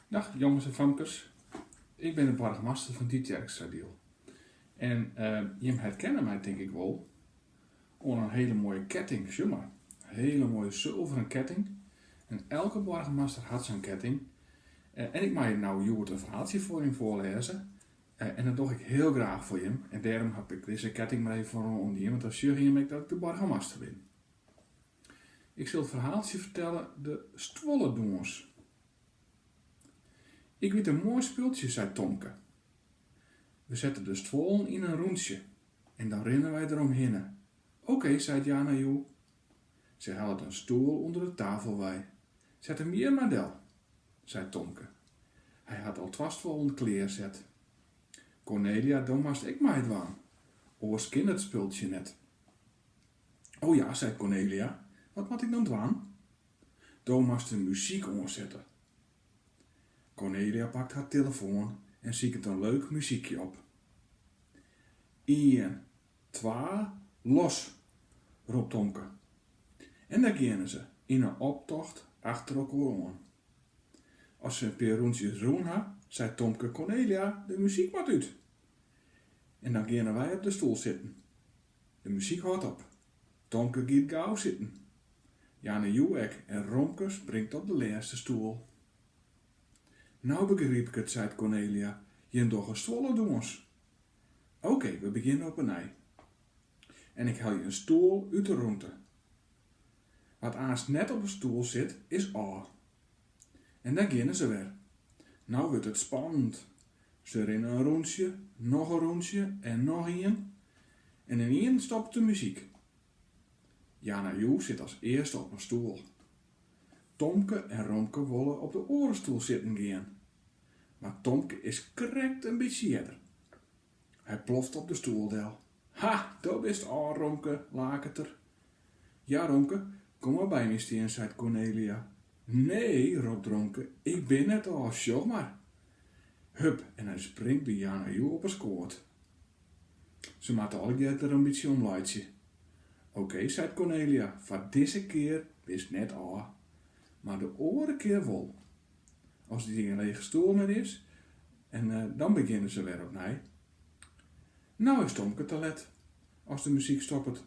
Dag jonges en famkes, ik bin de boargemaster fan Tytsjerksteradiel. En jim herkenne my tink ik wol oan in hele moaie ketting, sjoch mar, in hele moaie sulveren ketting. En elke boargemaster hat sa'n ketting en ik mei no hjoed in ferhaaltsje foar jim foarlêze. En dat doch ik hiel graach foar jim en dêrom haw ik dizze ketting mar even foar oanien, want dan sjogge jim ek dat ik de boargemaster bin. Ik sil it ferhaaltsje fertelle De Stuolledûns. Ik wit in moai spultsje, seit Tomke. We sette de stuollen yn in rûntsje en dan rinne wy der omhinne. Oké, seit Yana Yu. Se hellet in stoel ûnder de tafel wei. Set him hjir mar del, seit Tomke. Hy hat al twa stuollen klear set. Cornelia, do moatst ek meidwaan, oars kin it spultsje net. O ja, seit Cornelia, wat moat ik dan dwaan? Do moatst de muzyk oansette. Cornelia pakt har tillefoan en siket in leuk muzykje op. Ien, twa, los! ropt Tomke. En dêr geane se, yn in optocht achter elkoar oan. As se in pear rûntsjes rûn ha, seit Tomke, Cornelia, de muzyk moat út! En dan geane wy op de stoel sitten. De muzyk hâldt op. Tomke giet gau sitten. Yana Yu ek en Romke springt op de lêste stoel. No begryp ik it, seit Cornelia, jim dogge stuolledûns. Oké, we begjinne op 'e nij. En ik helje in stoel út 'e rûnte. Wa't aanst net op in stoel sit, is ôf. En dêr geane se wer. No wurdt it spannend. Se rinne in rûntsje, noch in rûntsje en noch ien. En ynienen stopt de muzyk. Yana Yu sit as earste op in stoel. Tomke en Romke wolle op de oare stoel sitten gean. Mar Tomke is krekt in bytsje earder. Hy ploft op de stoel del. Ha, do bist ôf, Romke, laket er. Ja, Romke, kom mar by my stean, seit Cornelia. Nee, ropt Romke, ik bin net ôf, sjoch mar. Hup, en hy springt by Yana Yu op 'e skoat. Se moatte allegear der in bytsje om laitsje. Oké, seit Cornelia, foar dizze kear bist net ôf, mar de oare kear wol. As der gjin lege stoel mear is, en dan begjinne se wer opnij. No is Tomke te let as de muzyk stoppet.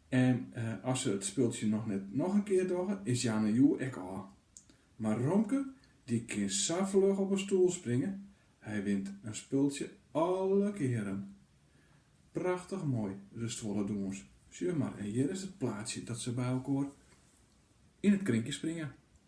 En as se it spultsje noch net noch in kear dogge, is Yana Yu ek ôf. Mar Romke, dy kin sa fluch op in stoel springe, hy wint it spultsje alle kearen. Prachtich moai, de stuolledûns. Sjoch mar, en hjir is it plaatsje dat se by elkoar yn it krinkje springe.